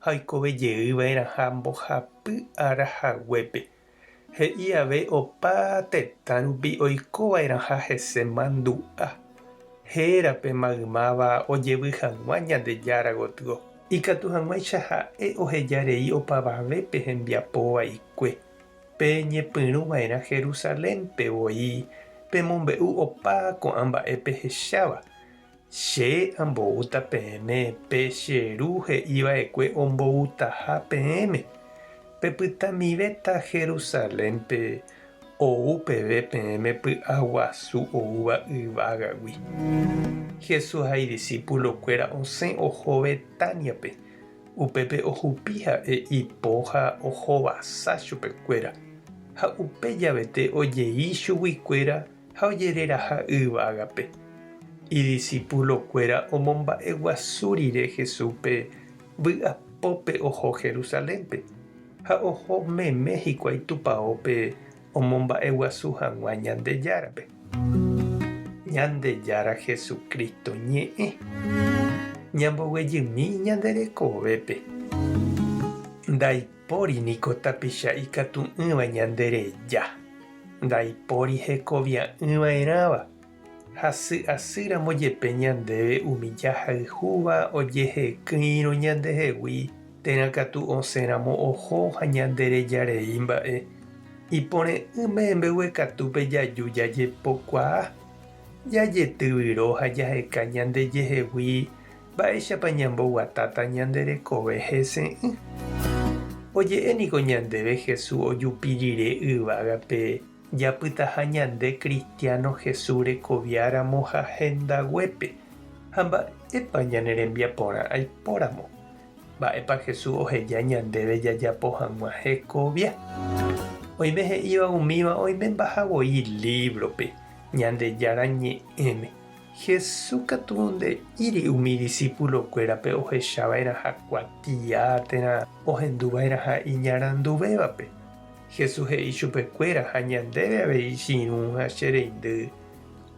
Oikove jey va'erãha mbohapy ára haguépe, he'i ave opa tetã rupi oiko va'erãha hese mandu'a, héra pe maymáva ojevy hag̃ua Ñandejára gotyo. Ikatu hag̃uáicha ha'e oheja rei opavave pe hembiapo vaikue, pe ñepyrũ va'erã Jerusalénpe voi pemombe'u opa ko'ã mba'e pehecháva, Che amboúta peẽme pe che Ru he'i va'ekue omboutaha peẽme. Pepytamivéta Jerusalénpe ou peve peẽme py'aguasu oúva yvágagui. Jesús ha idisípulo kuéra osẽ oho Betániape, upépe ohupi ha'e ipo ha ohovasa chupe kuéra. Ha upe javete ojei chugui kuéra ha ojereraha'ỹva ágape. Idisipulokuéra omomba'eguasu rire Jesúspe vy'apópe oho Jerusalénpe, ha oho meme hikuái Tupaópe omomba'eguasu hag̃ua Ñandejárape. Ñandejára Jesucristo ñe'ẽ. Ñamboguejymi ñande rekovépe. Ndaipóri. Póri niko tapicha ikatu'ỹva ñande reja, ndaipóri hekovia'ỹva'erãva, hasy asýramo jepe ñandéve umi jahayhúva ojehekỹirõ ñandehegui térã katu osẽramo oho ha ñande reja rei mba'e, iporẽ'ỹ mehembegue katúpe jaju jajepokuaa, jajetyvyro ha jaheka ñandejehegui Mba'éichapa ñamboguatáta ñande rekove hese'ỹ? Oje'e niko ñandéve Jesús ojupi rire yvágape japytaha ñande kristiáno Jesús rekoviáramo ha hendaguépe. Ha mba'épa ñane rembiaporã aipóramo? Mba'épa Jesús oheja ñandéve jajapo hag̃ua hekovia? Oime he'íva umíva oimembahavoi lívrope Ñandejára Ñe'ẽme. Jesús katu nde'íri umi disípulokuérape ohechava'erãha kuatia térã ohenduva'erãha iñaranduvévape. Jesús he'i chupekuéra ha ñandéve avei chirũ ha che reindy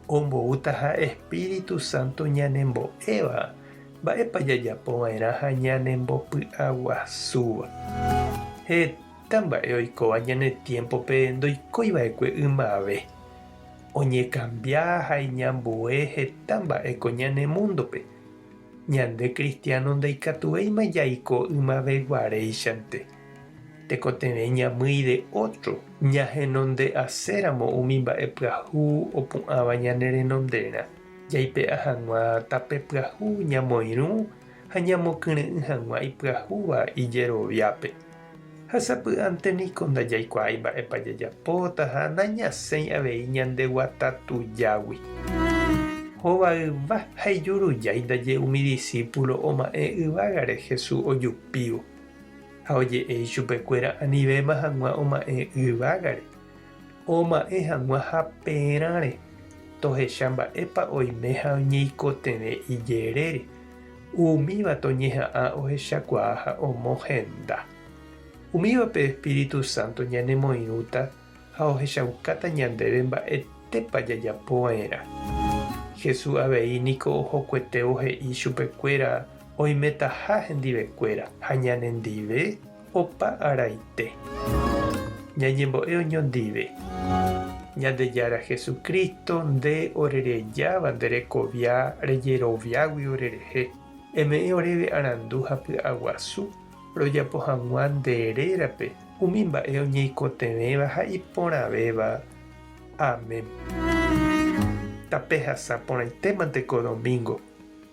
omboútaha espíritu sánto ñanembo'éva mba'épa jajapova'erãha ñanembopy'aguasúva. Heta mba'e oikóva ñane tiémpope ndoikoiva'ekue ymave. oñekambia ha iñambue heta mba'éko ñane múndope, ñande kristiáno ndaikatuvéima jaiko ymaveguaréichante. Tekotevẽ ñamýi de ótro ñahenonde'aséramo umi mba'e pyahu opu'ãva ñanerenonderã, jaipe'a hag̃ua tape pyahu ñamoirũ ha ñamokyre'ỹ hag̃ua ipyahúva ijeroviápe. Ha sapy'ánte niko ndajaikuaái mba'épa jajapóta ha nañasẽi avei ñandeguata tujágui. Hovayva ha ijurujái ndaje umi disípulo oma'ẽ yvágare Jesús ojupívo, ha oje'e ichupekuéra anivéma hag̃ua oma'ẽ yvágare. Oma'ẽ hag̃ua haperãre tohecha mba'épa oime ha oñeikotevẽ ijerére, umíva toñeha'ã ohechakuaa ha omohenda. Umíva pe espíritu sánto ñanemoirũta ha ohechaukáta ñandéve mba'etépa jajapo va'erã. Jesús avei niko ohokuetévo he'i chupekuéra oimetaha hendivekuéra ha ñanendive. Opa araite. Ñañembo'e oño ndive. Ñandejára Jesucristo, nde orerejáva nde rekovia rejeroviágui orerehe, eme'ẽ oréve arandu ha py'aguasu rojapo hag̃ua nde rérape umi mba'e oñeikotevẽva ha iporãvéva. Amén. Tape hasa porãitémante ko domingo.